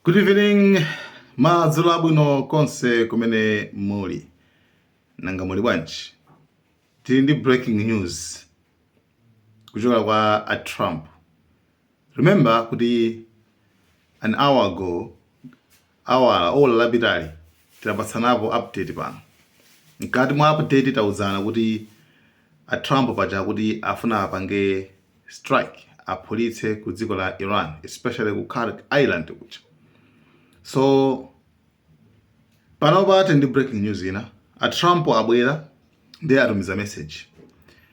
Good evening, madzulo abwino konse kumene muli. Nanga muli bwanji? Tili ndi breaking news kuchokera kwa a Trump. Remember kuti an hour ago awala, ola lapitali tinapatsanapo update pano. Mkati mwa update tauzana kuti a Trump paja akuti afuna apange strike aphulitse ku dziko la Iran especially ku Kharg Island kuja. So panopa tili ndi breaking news ina, a Trump abwera ndiye atumiza message.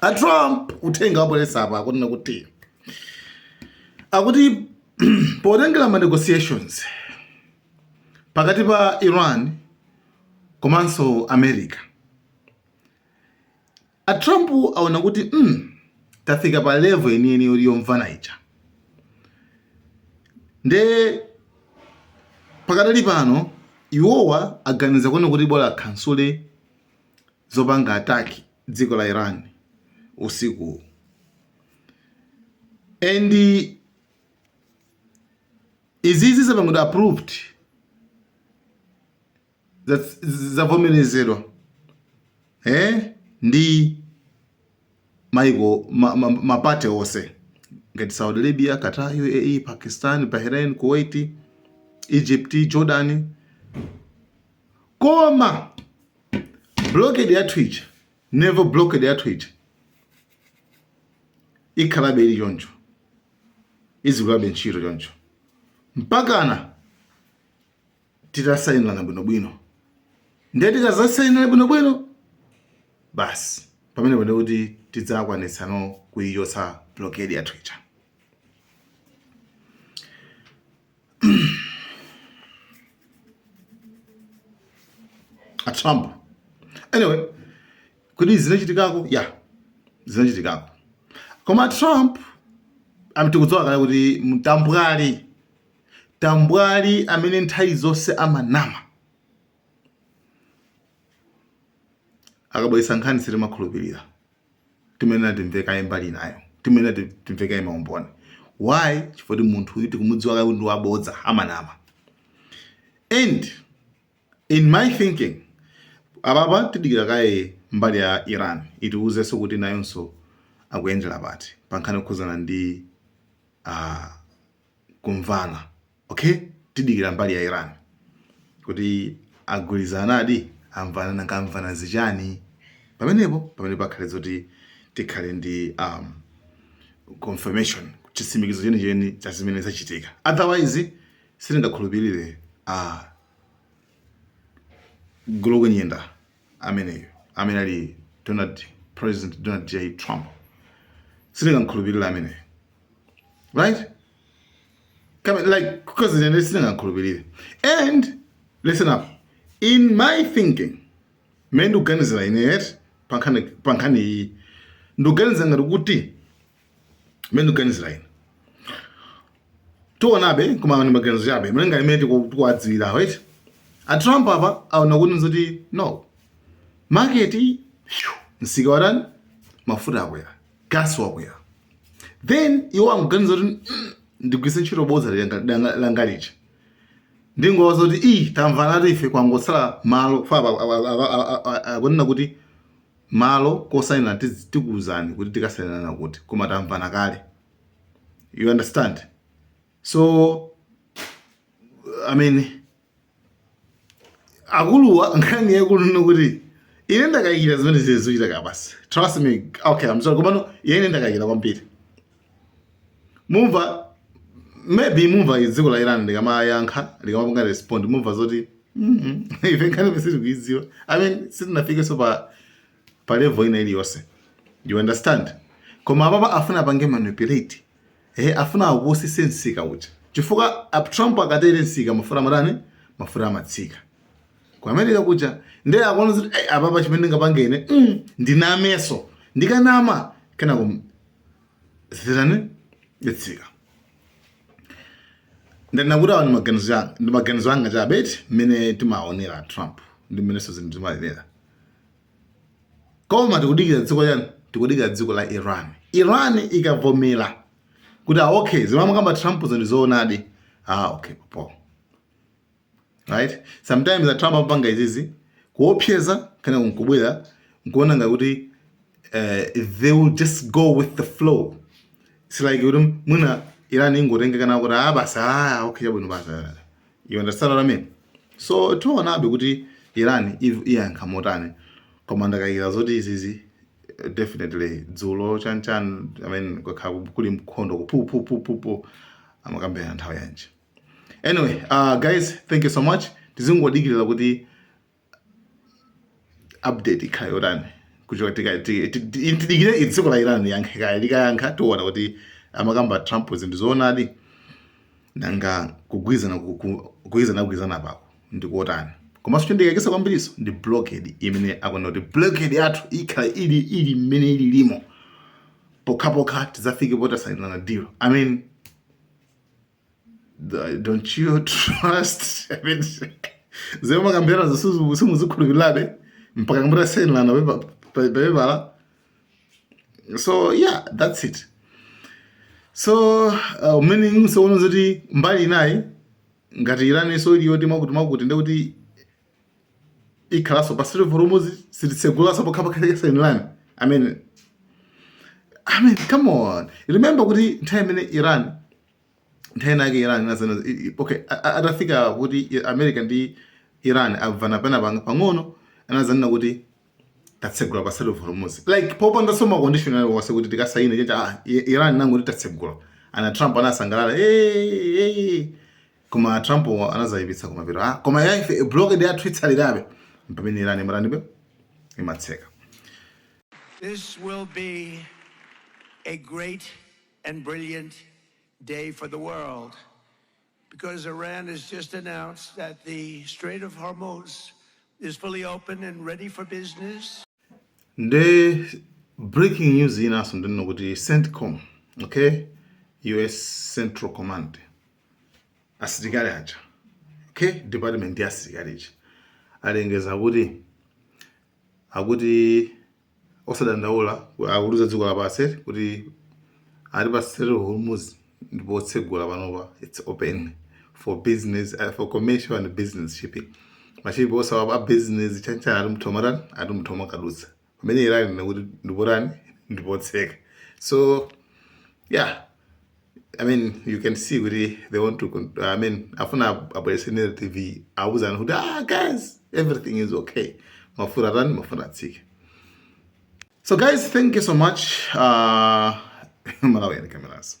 a trump uthenga abweretsa apa akunena kuti akuti potengera ma negotiations pakati pa iran komanso america a trump aona kuti mm, tafika pa level yeniyeni yoti yomvana ija nde pakadali pano iwowa aganiza kuona kuti bola akhansule zopanga attack dziko la Iran usikuwu and izizi zapangidwa approved zavomerezedwa eh ndi maiko mapate ma, ma onse ngati Saudi Arabia, Qatar, UAE, Pakistan, Bahrain, Kuwait, Egypt, Jordan koma blockade yathu ija naval blockade yathu ija ikhalabe ili choncho izigwirabe ntchito choncho mpakana titasainirana bwinobwino ndiye tikazasainirana bwinobwino basi pamenepo ndi kuti tidzakwanitsa no kuichotsa blockade yathu ija a Trump anyway kuti zinachitikako ya yeah, zinachitikako koma a Trump tikudziwa kale kuti mtambwali tambwali amene nthawi zonse amanama akabweretsa nkhani sitimakhulupirira timayenera timve kaye mbali inayo timayenera ti- timve kaye maumboni why chifukwa kuti munthuyu tikumudziwa kale kuti ndi wabodza amanama and in my thinking apapa tidikira kaye mbali ya iran itiwuzenso kuti nayonso akuyendera pati pankhani yokhuzana ndi ah, kumvana okay tidikira mbali ya Iran kuti agwirizanadi amvana nanga amvana zichani pamenepo pamene pakhale zoti tikhale ndi um, confirmation chisimikizo chenicheni cha zimene zachitika otherwise sitingakhulupirire a uh, galu wonyenga ameneyo amene ali Donald President Donald J Trump sindingamkhulupirira ameneyo right like because then sindingamkhulupirire and listen up in my thinking mmene ndikuganizira ine eti pankhani iyi ndikuganiza ngati kuti mene ndikuganizira ine tionabe koma ni maganizo chabe mene ngati mene tikuwadziwira right atrump apa aona kuti nzoti no market msika watani mafuta akwera gasi wakwera then iwo akuganiza kuti mm, ndigwiritse ntchito bodza langa lija ndingowauza kuti ii tamvanatu ife kwangotsala malo akunena kuti Malo kosainila tikuuzani kuti tikasainilana kuti koma tamvana kale you understand so I mean akuluwa nkhani yaikulu ndi kuti ine ndakayikira zimene izi zichitika basi trust me okay I'm sorry komano ine ndakayikira kwambiri mumva maybe mumva dziko la Iran likamayankha likamapanga respond mumva zoti mhm, ife nkhaniyi ife sitikuidziwa i mean sitinafikenso pa pa level ina iliyonse you understand koma apapa afuna apange manipulate eh afuna awutsitse msika uja chifukwa ap- trump akatere msika mafuta amatani mafuta amatsika ku america kuja ndiye akuona zoti "Ei, apapa chimene ndingapange ine mm, ndinamenso ndikanama kenako zitani itsika ndanena kuti awa ndi maganizo anga chabe eti mmene timaonera trump ndi mmenenso zinthu zimayendera koma tikudikira dziko chani tikudikira dziko la iran iran ikavomera kuti ah, okay zimene akukamba trump ndi zoonadi ah okay pompo right sometimes a trump amapanga izizi kuopseza kana nkubwera nkuona ngati kuti eh, they will just go with the flow it's like kuti mwina irani ingotengeka nawo kuti ah basi ah okay chabwino basi ah." you understand what i mean so tionabe kuti irani iv- iyankha motani koma ndakayikira zoti izizi eh, definitely dzulo chanchan i mean kukhala kuli nkhondo kupupupupupu amakambirana nthawi yanji anyway uh, guys thank you so much tizingodikirira kuti update ikhale yotani kuchoka tika- ti- ti- ti- tidikire i- dziko la iran liyankhe kaya likayankha tiona kuti amakamba trump zinthu zoonadi nanga kugwirizana ku- ku- kugwirizana kugwirizana kwake ndikuotani komanso chondikaikitsa kwambiriso ndi blockade imene akunena kuti blockade yathu ikhala ili ili mmene ili limo pokhapokha tidzafike posainirana deal i mean don't you trust I mean, zimene mwakambiranazo simukuzikhulupirirabe mpaka kukambirana zosainirana pepala so yeah that's it so uh, meaning tsono zoti mbali inayi ngati iran so iliyoti mwakuti mwakuti ndekuti ikhalanso pa strait of hormuz sititsegulanso pokhapokha asainirane i mean i mean come on remember kuti nthawi imene iran nthawi inake iran inadzanena okay atafika kuti america ndi iran amvana pena pang'ono anazanena kuti tatsegula pa strait of hormuz like popandanso macondition ali wonse kuti tikasaine chacha ah, iran inangoti tatsegula and a trump anasangalala hey, hey. Koma a Trump-wo anazaipitsa kumapeto ah koma ya ife a blockade yathu itsalirabe m'pamene Iran imatani imatseka. This will be a great and brilliant day for the world because Iran has just announced that the Strait of Hormuz is fully open and ready for business. Nde breaking news inanso ndiyonena kuti CENTCOM okay US Central Command asilikali aja okay department ya asilikali aja alengeza kuti akuti osadandaula akuliuza dziko lapansi kuti ati pa Strait of Hormuz ndi potsegula panopa it's open for business uh, for commercial and business ships mashipi onsewa a business chanichani ati atha kumatani ati atha kumadutsa pamene iran ikunena kuti ndi potani ndi potseka so yeah I mean you can see kuti they want to con- I mean afuna ab- abwerese narrative awuzana kuti ah guys everything is okay mafuta atani mafuta atsike so guys thank you so much uh, malawi and cameras